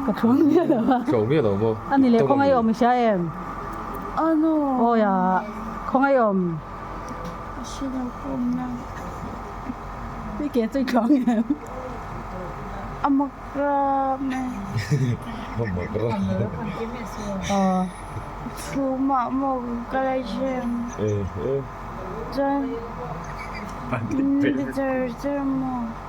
Ka thlawm miah lo a. Thlawm miah lo maw? A ni leh khawngaihawm i hria em? Awia, khawngaihawm. A si lo ka awmna. I ke chu i thlawm em? A mak rap mai. A mak rap mai. Thu mah maw ka la zem. Chuan, Mister Zermaw.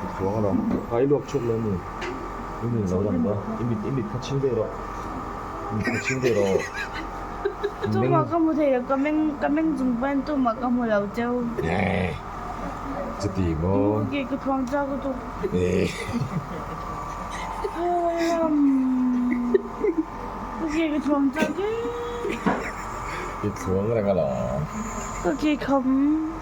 Dik chuang a rawh. Ka i luak chhuak leh a ni. I min lo lang ka. I mit i mit kha chhing ve rawh. I mit kha chhing ve rawh. Meng. Tumah ka hmu thei lo. Ka meng ka meng chung pahin tumah ka hmu lo teu. Eii. Chuti maw. I muh ke ka phuang chau ka tuk. Ka ke ka phuang chau ke. I thluang reng alawm. Ka ke kham.